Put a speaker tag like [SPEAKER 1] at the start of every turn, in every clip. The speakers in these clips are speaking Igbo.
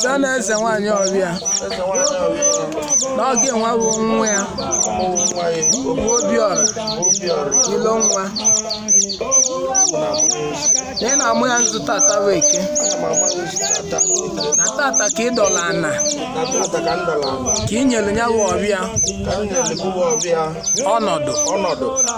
[SPEAKER 1] sị na eze nwaanyị ọbịa na ọ gị nwa bụ nwa ya bụ obiọra ilo nwa na ị na-amụ ya nzu tata bụ eke na tata ka ị dọla ana ka ị nyere ya bụ ọbịa ọnọdụ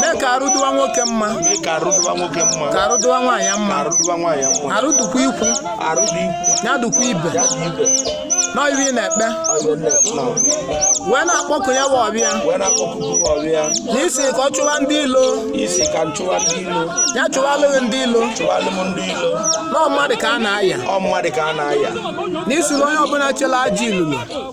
[SPEAKER 1] mee ka arụ dịwa nwoke mma mee ka arụ dịwa nwoke mma ka arụ dịwa nwaanyị mma ka arụ dịwa nwaanyị mma arụ dịkwa ikwu arụ dị ikwu ya dịkwa ibe ya dị ibe na ive ị na-ekpe ọzọ na-ekwu na wee na-akpọku ya bụ ọbịa wee na-akpọku ọbịa na ị sị ka ọ chụwa ndị ilo ị sị ka m chụwa ndị ilo ya chụwalụ ghị ndị ilo chụwalụ m ndị ilo na ọ mmadụ ka a na-aya ọ mmadụ ka a na-aya na ị sịrị onye ọbụla chela ajọ ilulu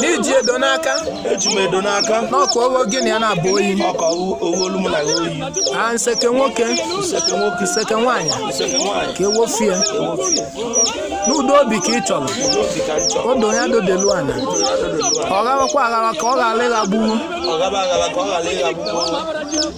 [SPEAKER 1] na i ji edo n'aka eji m edo n'aka n'ọka owo gị na ya na-abụ oyi ọka owu olu m na ya oyi a nseke nwoke nseke nwoke nseke nwaanyị nseke nwaanyị ka ewofie ewofie n'udo obi ka ị chọrọ obi ka m chọrọ odo ya dodelu ana ọ ghabakwa aghaba ka ọ ghara ịghagbuwu ọ ghaba aghaba ka ọ ghara ịghagbu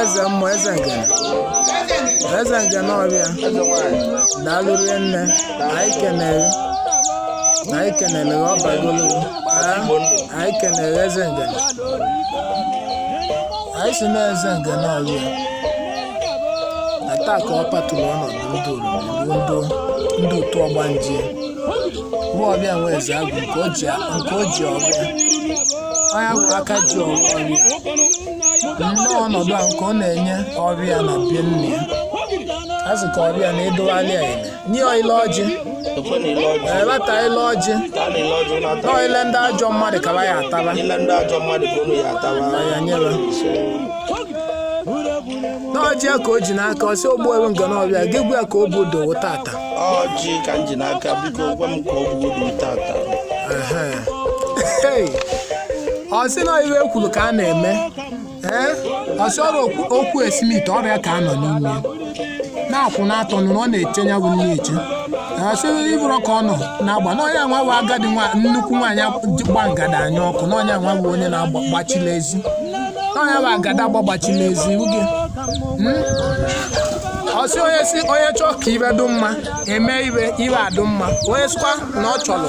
[SPEAKER 1] eze mmụọ eze ngene eze ngene ọbịa daalụ rinne anyị kenere anyị kenere ọ bagolo anyị kenere eze ngene anyị sị na eze ngene ọbịa na taa ka ọ patụrụ ọnọdụ ndị orimiri ndị ndị otu ọgbanje bụ ọbịa nwe eze agwụ nke o ji nke o ji ọbịa onye agwụ aka ji ọbịa nnọọ ọnọdụ a nke ọ na-enye ọbịa na bie nne ya a sị ka ọbịa na ị dowalị ya eme nye ya ile ọjị Ekwe na ile ọjị. eleta ile ọjị Ka a na-ele ọjị ụlọ ata. na ọ ile ndị ajọ mmadụ kaba ya ataba Ile ndị ajọ mmadụ ka unu ya atawa. ma ya nyere n'ọjị ya ka o ji n'aka ọ sị ogbu ewu ngana ọbịa gị gwa ya ka o bụ dowo tata ọjị ka
[SPEAKER 2] m ji n'aka biko gwa m ka ọ bụgodu
[SPEAKER 1] tata Hey, ọ sị na ive e kwuru ka a na-eme ee ọ sị ọrụ okwu- okwu esimite ọbịa ka a nọ n'ime na-akwụ n'atọ nụrụ ọ na-eche ya bụ nche ọ sị ịbụrụ ka ọ nọ na-agba na ọ nya nwa bụ agadi nwa nnukwu nwaanyị ji gba ngada anya ọkụ na ọ nya nwa bụ onye na-agbachila ezi na ọ nya bụ agadagba gbachila ezi uge ọ sị onye sị onye chọọ ka ive dị mma eme ive ive adụ mma onye sịkwa na ọ chọrọ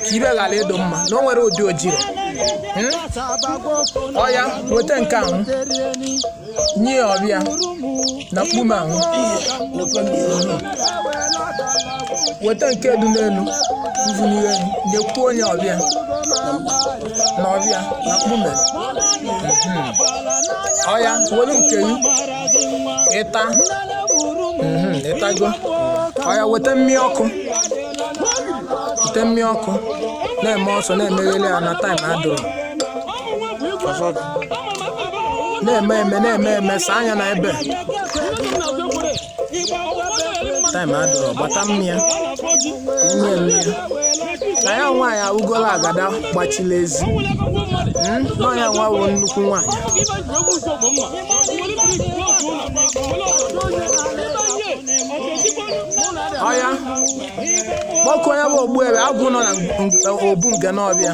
[SPEAKER 1] ka ive ghara ịdụ mma na o nwere ụdị o jiri ọya weta nke ahụ nye ya ọbịa na mkpume ahụ weta nke dị n'elu mvụnye elu nyekwuo onye ọbịa n'ọbịa na mkpume Mhm. ọya welu nke gị ịta Mhm, ịtago ọya weta mmịa ọkụ weta mmịa ọkụ na-eme ọsọ na-emegheli ya na taịm adịrọ na-eme eme na-eme eme saa anya na ebe taịm adịrọ gbata mmịa nye m ya na ya nwaanyị awụgola agada gbachila ezi Mm, nọ ya nwa bụ nnukwu nwaanyị ọya kpọkuo onye bụ ogbu ebe agwụ nọ na ng- ng- obu Ngene Ọbịa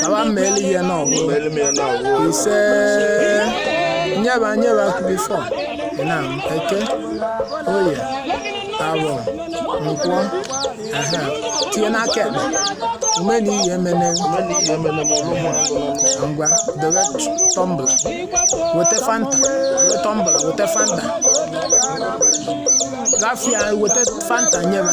[SPEAKER 1] kaba mmeli ihe na ọgụ ise nyeba nyeba bifọ na eke oye afọ nkwọ aha tinye n'aka ekpe ume na iyi emene ngwa dobe tọmbla weta fanta weta tọmbla weta fanta gafia weta fanta nyeba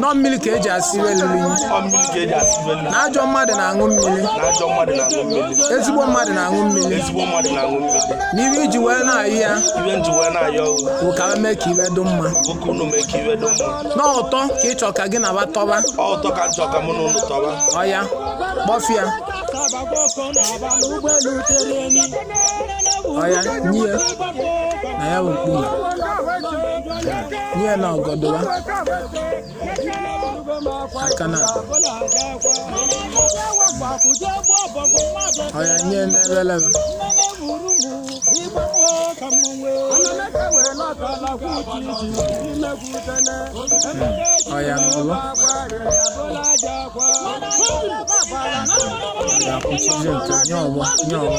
[SPEAKER 1] nọ mmiri ka eji esi iwe lili na ajọ mmadụ na-aṅụ mmiri ezigbo mmadụ na-aṅụ mmiri n'iwe eji wee na-ayọ ya bụ ka mee ka iwe dị mma n'ụtọ ka ịchọ ka gị na ba tọba ọya kpọfịa ọya nye ya na ya bụ mkpume Nye na ọgọdụwa aka na ọya nye n'ebelebe ọya n'ụlọ ga-akwụchizi nke nye ọgbọ nye ọgbọ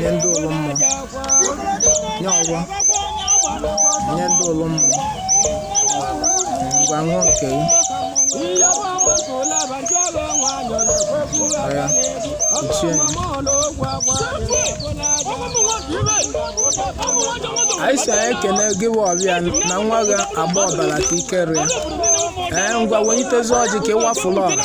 [SPEAKER 1] nye ndị ụlọ mmụọ nye ọgbọ nye ndị ụlọ mmụọ ngwa ṅụọ nke gị ọya kpuchie ya anyị sị anyị ekene gị bụ ọbịa na nwa gị agba ọbara ka ike rịa ee ngwa wenyitezi ọjị ka ịwafụla ọra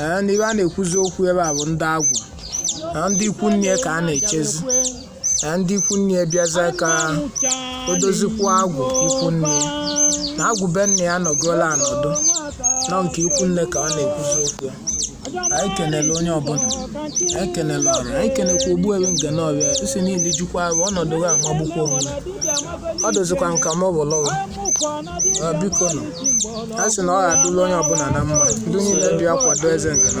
[SPEAKER 1] ee na ebe a na-ekwuzi okwu ebe a bụ ndị agwụ na ndị ikwu nne ka a na-echezi na ndị ikwu nne bịaza ka o dozikwa agwụ ikwu nne na agwụ be nna ya nọgoola anọdụ nọ nke ikwu nne ka ọ na-ekwuzi okwu ya anyị kenele onye ọbụla anyị kenele ọrụ anyị kenekwa ogbu ebe Ngene Ọbịa isi niile jukwa ahụ ọnọdụ ga amagbukwa onwe ya. ọ dozikwa nka ma ọ bụ lọwa biko nọ a sị na ọ ga-adụlụ onye ọbụla na mma ndị niile bịa kwado eze nke na